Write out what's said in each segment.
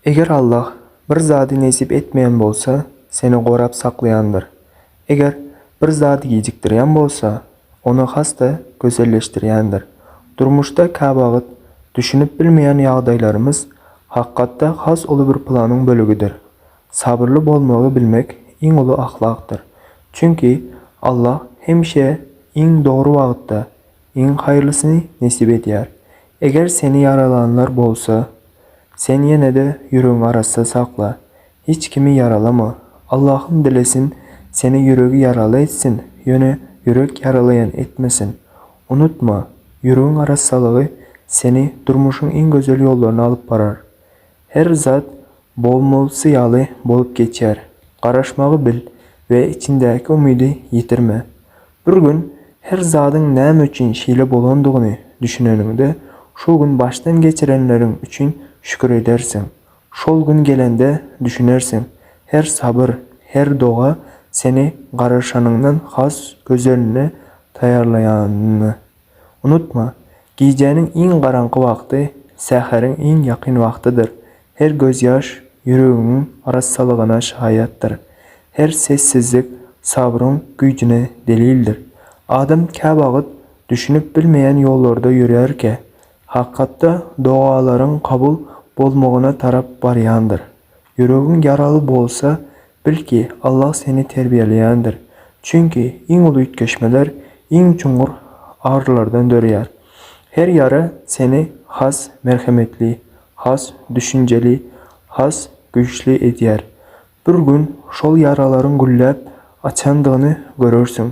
Eger Allah bir zady nesip etmeýän bolsa, seni gorap saklaýandyr. Eger bir zady gijikdirýän bolsa, ony has-da gözelleşdirýändir. Durmuşda käwagt düşünip bilmeýän ýagdaýlarymyz hakykatda has uly bir planyň bölegidir. Sabyrly bolmagy bilmek iň uly ahlakdyr. Çünki Allah hemişe iň dogry wagtda Iň haýyrlysyny nesip edýär. Eger seni ýaralanlar bolsa, sen ýene-de ýüregiňi arassa sakla. Hiç kimi ýaralama. Allahym dilesin, seni ýüregi ýaraly etsin, ýöne ýürek ýaralaýan etmesin. Unutma, ýüregiň arassalygy seni durmuşyň iň gözel ýollaryna alyp barar. Her zat bolmalysy ýaly bolup geçer. Garaşmagy bil we içiňdäki umydy ýitirme. Bir gün her zadyň näme üçin şeýle bolandygyny düşüneniňde, şol gün başdan geçirenleriň üçin şükür edersiň. Şol gün gelende düşünersiň, her sabyr, her doga seni garaşanyňdan has gözeline taýýarlaýanyny. Unutma, gijäniň iň garaňky wagty säheriň iň ýakyn wagtydyr, her gözýaş ýüregiňiň arassalygyna şaýatdyr, her sessizlik sabryň güýjüne delildir. Adam käwagt düşünip bilmeýän ýollarda ýörärkä, hakykatda dogalaryň kabul bolmagyna tarap barýandyr. Ýüregiň ýaraly bolsa, bil ki, Allah seni terbiýeleýändir. Çünki iň uly üýtgeşmeler iň çuňňur agyrylardan döreýär. Her ýara seni has merhemetli, has düşünjeli, has güýçli edýär. Bir gün şol ýaralaryň gülläp açandygyny görersiň.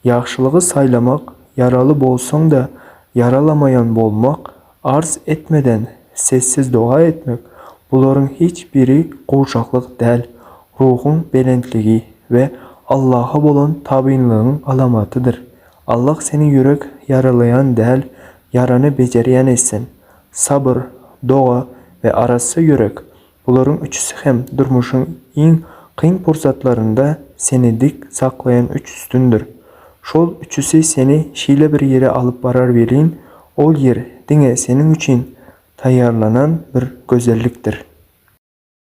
Ýagşylygy saýlamak, ýaraly bolsaň-da, ýaralamaýan bolmak Arz etmeden sessiz doga etmek, bularyň hiç biri gowşaklyk däl, ruhuň belentligi we Allaha bolan tabynlygyň alamatydyr. Allah seni ýürek ýaralaýan däl, ýarany bejerýän etsin. Sabyr, doga we arassa ýürek Bularyň üçüsi hem durmuşyň iň kyn pursatlarynda seni dik saklaýan üç sütündir. Şol üçüsi seni şeýle bir ýere alyp barar welin, ol ýer diňe seniň üçin taýýarlanan bir gözellikdir.